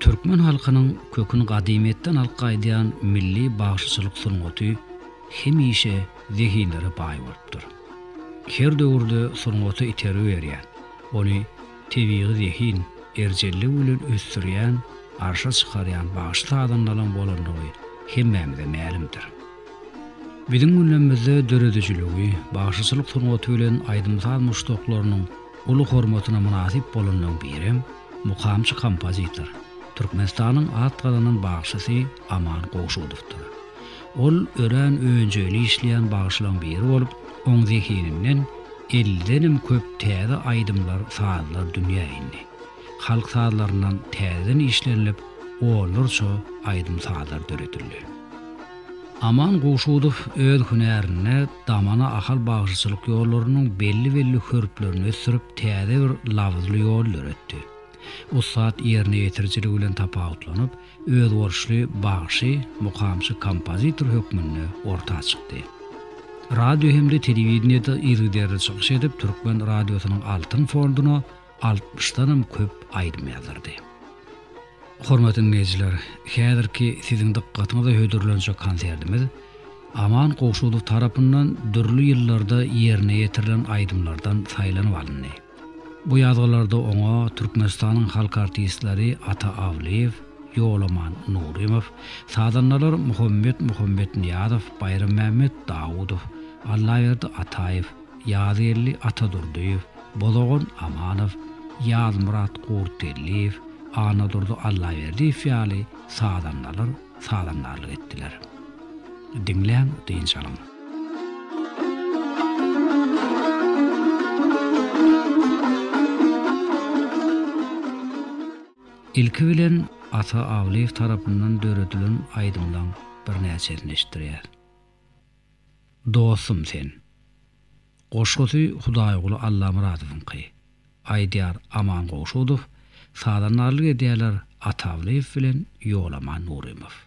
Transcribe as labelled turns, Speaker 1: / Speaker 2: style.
Speaker 1: Türkmen halkynyň köküni gadymyýetden alyp gaýdýan milli bagşyçylyk sungaty hemişe zehinlere baý bolupdyr. Her döwürde sungata itergi berýän, ony tebigy zehin, erjellik bilen ösdürýän, arşa çykarýan bagşy-sazandalaň bolandygy hemmämize mälimdir. Biziň günlerimizde döredijiligi, bagşyçylyk sungaty bilen aýdym-saz muşdaklarynyň uly hormatyna mynasyp bolanlaryň birem mukamçy kompozitor, Türkmenistanyň at gazanan bagşysy Aman Gowşudowdyr. Ol örän önjeýli işleýän bagşylaryň biri bolup, oň zehininden ellidenem köp täze aýdymlar, sazlar dünýä indi. Halk sazlaryndan täzeden işlenilip, onlarça aýdym-sazlar döredildi. Aman Gowşudow öz hünärinde, Damana Ahal bagşyçylyk ýollarynyň belli-belli hörplerini ösdürip, täze bir labyzly ýol döretdi. Ussat ýerine ýetirijiligi bilen tapawutlanyp, özboluşly bagşy, mukamçy, kompozitor hökmünde orta çykdy. Radio hem-de telewideniýede yzygiderli çykyş edip, türkmen radiosynyň altyn fonduna, altmyşdanam köp aýdym ýazardy. Hormatly diňleýjiler, häzirki siziň dykgatyňyza hödürlenjek konsertimiz Aman Gowşudow tarapyndan dürli ýyllarda ýerine ýetirilen aýdymlardan saýlanyp alyndy. Bu ýazgylarda oňa Türkmenistanyň halk artistleri Ata Awlyýew, Ýolaman Nurymow, sazandalar Muhammet Muhammetnyýazow, Baýrammämmet Dawudow, Allaberdi Ataýew, Ýazgeldi Atadurdyýew, Bozagan Amanow, Ýazmyrat Gurtgeldiýew, Annadurdy Allaberdiýew ýaly sazandalar sazandarlyk etdiler. Diňläň, dynç alyň. Ilki bilen Ata Awlyýew tarapyndan döredilen aýdymlaň birnäçesini eşitdirýäs. Dostum sen. Goşgusy Hudaýguly Allamyradowyňky. Aýdýar Aman Gowşudow, sazandarlyk edýärler Atawlyýew bilen Ýolaman Nurymow.